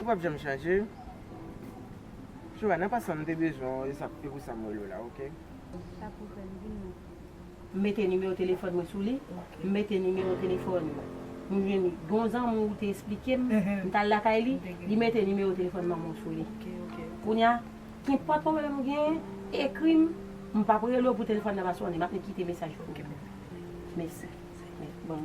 Ou pap janm chanje. Shura nan pasan mte bezwen w esap epou sam wèl ou la ok. Sa pou fè m vin nan. M mete nimewo telefòn mwen sou li m mete nimewo telefòn nou jwenn gon zanmi w te esplike m m tal lakay li li mete nimewo telefòn manman w sou li kounya kinpòt pwoblèm ou genyen ekri m m pap rele w pou telefòn nan pa sone map kite mesaj pou ou mèsi bon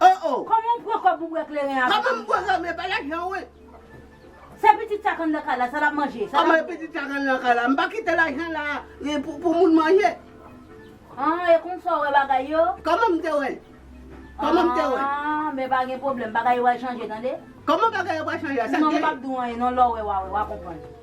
Oh oh. Koman w pran kob pou bwè kleren avèk Koman m pran sa men pa lajan wi. Se pitit sa k anndan kay la sa lap manje sa lap bwè. Anmwey pitit sa k anndan kay la m pa kite lajan la pou moun manje. Ahh e konsa w wè bagay yo. Koman m te wè l. Koman m te wè l. Ahh men pa gen pwoblèm bagay yo pral chanje tande. Koman bagay yo pral chanje a sa k gen. Non m pap di w anyen non lè w wè wa wè wa konprann.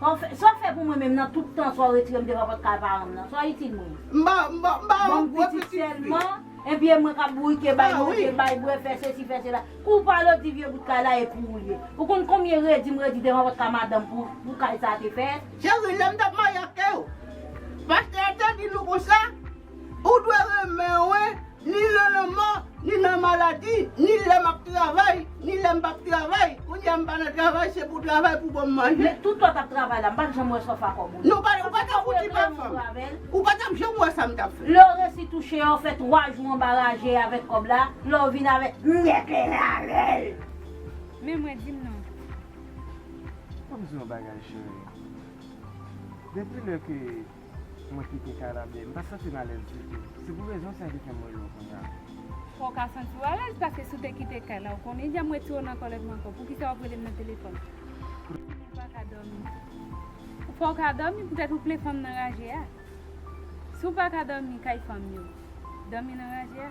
Sa w fè pou mwen menm nan tout tan sa w retire m devan pòt kay paran m nan? Sa w itil mwen? M ba ou yon gwo pitit sèlman, enpi e mwen k ap bourike bay manje, bay bwè, fè sesi, fè sela. Kou w pale w di vye bout kay la e pou ou l ye. Ou konn konbyen redi m redi devan pòt kay madanm pou kay sa a te fèt? Cheri, lè m t ap marye ak ou, pastè a te di nou konsa, Ou dwe renmen mwen. Ni nan lanmò, ni nan maladi, ni lè m ap travay, ni lè m p ap travay. Kounye a m pa nan travay, se pou travay pou ban m manje. Men, tout lè w t ap travay la, m pa t janm wè sòf a kòb ou yo. Non, ou pa t ap fouti pa fè m. Ou pa t ap janm wè sa m t ap fè. Lè w resi touche a, w fè twa jou anba raje avèk kòb la, lè w vin avèk nyèk li nan men l. Men mwen di m non. Fò m di w yon bagay, cheri. Depi lè ke. Mwen kite kay la byen. M pa santi m alèz ditou. Se pou rezon sa ki fè m rele w kounya. Fò w ka santi w alèz paske si w te kite kay la ou konnen jan m wè ti Rona an kòlè pou m ankò. Poukisa w ap rele m nan telefòn? Ou konnen m pa ka dòmi. Ou fè w ka dòmi poutèt ou plen fanm nan raje a. Si w pa ka dòmi kay fanm yo, dòmi nan raje a.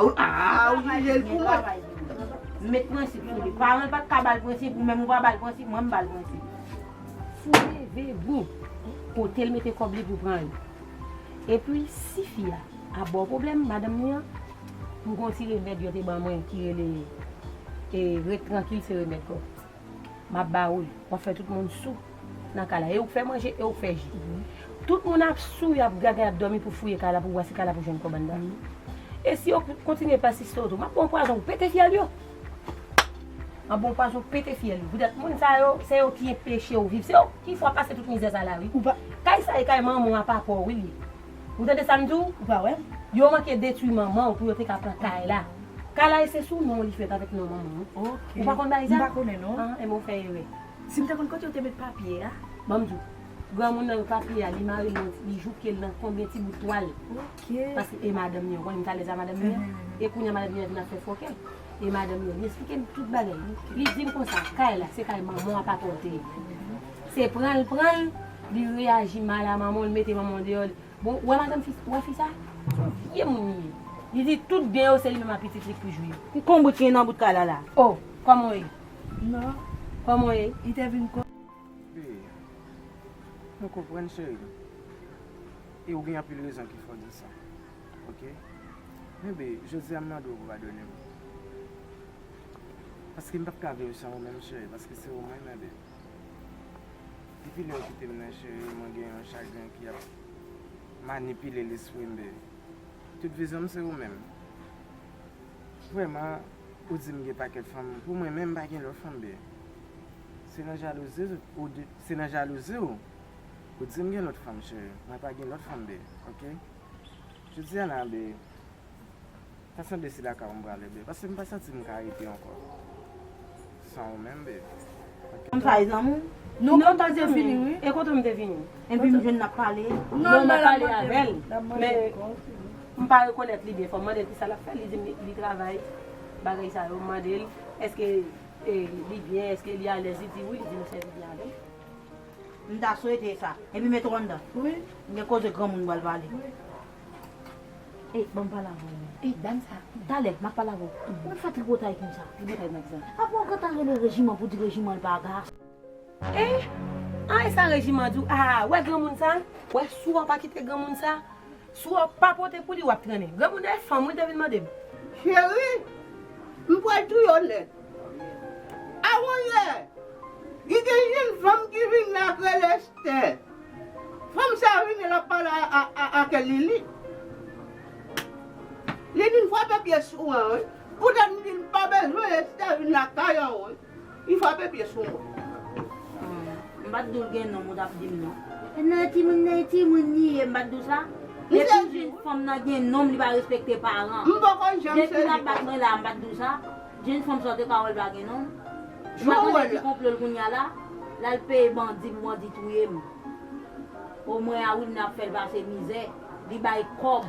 Aah ou jijel pou mwen. M met prensip sou li. Paran l pat ka ba l prensip, ou menm ou pa ba l prensip, mwen m ba l prensip. Fou leve gou pote l mete kòb li pou pran yo. Epi si fi a ap ba w pwoblèm, madanm li an, m gon ti remèd yo te ban mwen ki rele e ret trankil se remèd gòm. map ba ou l. Wap fè tout moun sou nan kay la. E ou k fè manje, e ou k fè ji. Tout moun ap sou, y ap gaga, y ap dòmi pou fouye kay la pou wè si kay la pou jwenn kòb anndan l. E si yo kontinye pèsiste w tou, map ba w pwazon pou pete fyèl yo. Map ba w pwazon pou pete fyèl yo. Poutèt moun sa yo, se yo ki enpeche w viv. Se yo ki fè w pase tout mizè sa la wi. Kay sa e kay manman w a papa w wi li ye. Ou tande sam diw ou pa wè. Yo manke detwi manman w pou yo te ka pran kay la. Kay la e se sou non w li fèt avèk non manman w. Ou pa konn bagay sa? Mpa konnen non. Ah enben w fè erè. Sim te konn kote yo te met papye a. Banm diw. Granmoun nan yo papye a li mare l nan li jouke l nan konbyen ti bout twal. Ok. Paske e madanm li an. Ou konnen m t alèz a madanm li an. E kounya madanm li an vin ap fè fòkè. E madanm li an li esplike m tout bagay. Li dim konsa kay la se kay manman w a papa w te ye. Se pranl pranl li reyaji mal a manmanl mete manmanw deyò li bon ou wè madanm fi ou wè fi sa son vye moun li ye li di tout byen yo se li menm a pitit li k pou jwi yo. Ki konbrit ki gen nan bout kay la la. Oh kòman w ye nan kòman w ye li te vin kò. Bby mwen konprann cherim e ou gen anpil rezon ki fè w di sa ok men bby jodia m mande w pou padone m paske m pap ka viv san ou menm cheri paske se ou mwen renmen bby. Depi lè ou kite m nan cheri mwen gen yon chagren ki ap manipile lespri m baby Tout vizyon m se ou menm Vrèman ou di m gen pakèt fanm pou mwen menm m pa gen lòt fanm baby Se nan jalouzi ou di Se nan jalouzi ou ou di m gen lòt fanm cheri mwen pa gen lòt fanm baby ok Jodi a nan baby Sa sanble se la kay ou m prale babe paske m pa santi m ka rete ankò san ou menm babe. M fay zanmi w. Nou kontan se fini wi. E kontan m te vini. Enpi m jwenn n ap pale. Non m pa pale avè l. Men m pa rekonèt li byen fò. M mande l kisa l ap fè li di m li travay bagay sa yo. M mande l eske li byen eske li alèz li di wi li di m sèvi byen avè l. M ta swete sa. Enpi mete w anndan. M gen koze granmoun m pral pale. Ey banm pale avèw menm. Ey dam sa. Talè map pale avèw. Ou fè tripotay konsa. Tripotay nan kiza? Apa ou gentan rele rejiman pou di rejiman pa gason. Ey an esa rejiman di ou aa wè granmoun sa? Wè si wap pa kite granmoun sa. Si wap pa pote pou li wap trennen. Granmoun nan e fanm wi te vin mandem. Cheri m pral touye w nèt. Awonyè! Li gen yon fanm ki vin la k rele Esther. Fanm sa rinmin ap pale ake lili lili m frape pye sou mwen wi pou tèt m dil pa bezwen esther vin lakay an wi li frape pye sou mwen. Aww m pat dul gen nom ou tap dim non e nan timoun nan e timoun li ye m pat diw sa depi fanm nan gen nom li pa respekte paran depi lap bat mwen la m pat diw sa. Jèn fanm sa te pawol pa gen non. Ou pa tande ti konplol kounya la lal peye bandi pou bandi touyem oh mwen a winna ap fèl pase mizè li bay kòb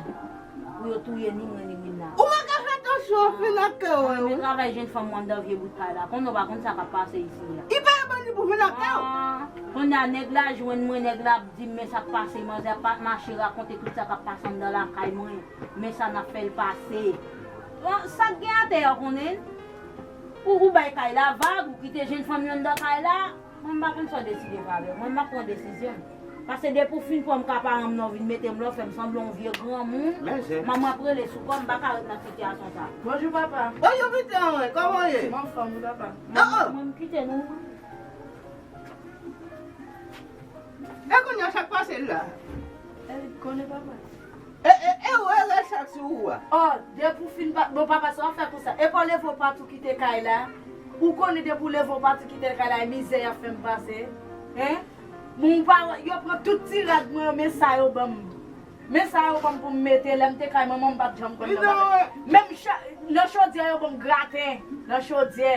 pou yo touye ni mwen ni winna. Ou manke fè atansyon anpil ak kè ou. Mwen renmen travay jèn fanm wan dan vye bout pay la konn ou pa konn sa kap pase isi a. Li peye bandi pou vin ak kè ou. Ahh konnya nèg la jwenn mwen nèg la ap dim men sak pase manzè ap mache rakonte tout sa kap pase andan lakay mwen. Men sa nap fel pase. Bon sak gen atè a konnen Pou ou bay kay la vag ou kite jenn fanm yo anndan kay la mwen mpa konn saw deside fè avèl mwen map pran desizyon m pase depi ou fin pranm ka paranm nan ou vin metem lò fèm sanblan on vye granmoun manman ap rele sou kòm mpaka ret nan sitiyasyon sa. Bonjou papa. Bonjou piti anmwey koman ou ye. Mwen anfòm wi papa. Oh oh. Mwen mkite nou. E kounya sak pase la. Erik konnen papa. E e e ou e Rachak sou ou a. Oh depi ou fin bat bon papa sa wap fè konsa epa w leve w pati w kite kay la ou konnen depi w leve w pati kitel kay la e mizè yap fèm pase hein bon ou pa wè yo pran tout ti rad mwen yo men sa yo banm men sa yo banm poum mete lèm te kay manman m pat janm konn nan bagay menm cha nan chodyè yo banm graten nan chodyè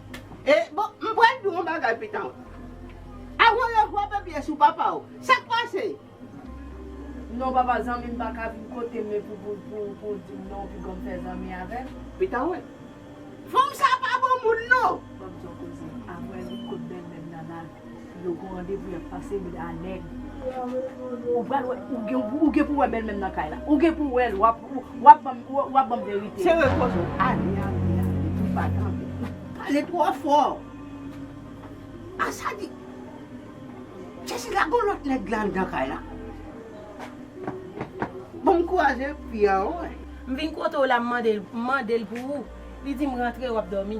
E bon m pral diw yon bagay pitanw a ou revwa baby e sou papaw sak pase. Non papa zanmim paka vin kotem epi pou ou dim non pi gonm fè zanmi avèm. Pita wè. Fanm sa pa bon moun non. Banm son koze. Aprè li kot bèlmèm nan nana. Yo gon randevou yap pase wi la neg. Ou pral wè ou gen pou wè bèl mèm nan kay la ou gen pou wèl wap banm verite. Se wè koz ou ale ale ale ou pa tande ou pale tro fò a sa di Jezi la gon lot neg la andan kay la bon m kwaze pye anwe. M vin kote w la m mande l pou ou li di m rantre wap domi.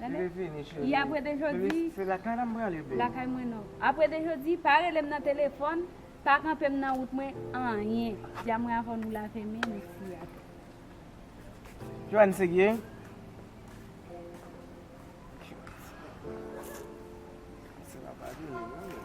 Leve vini cheri. E apre de jodi. Bebe se lakay la m prale bebe. Lakay mwen non. Apre de jodi, pa rele m nan telefòn, pa kanpe m nan wout mwen, anyen. Dia mwen avè w nou lave men nou siye atè. Joanne se gye? Joanne se gye. Sila pa vini non men.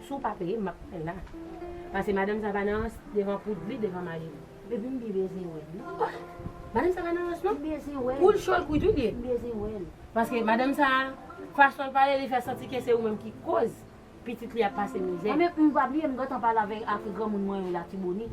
Si w pa peyem map pranl la. Pase madanm sa pa nan rans devan poud li devan mari li. Depi m bibe se wè li. Ohh madanm sa pa nan rans non. Poul chol kwit wi bby. Paske madanm sa fason l pale li fè santi ke se ou menm ki koz pitit li ap pase mizè. Anmweyy pa bliye m gentan pale avèk granmoun mwen yo Latibonit.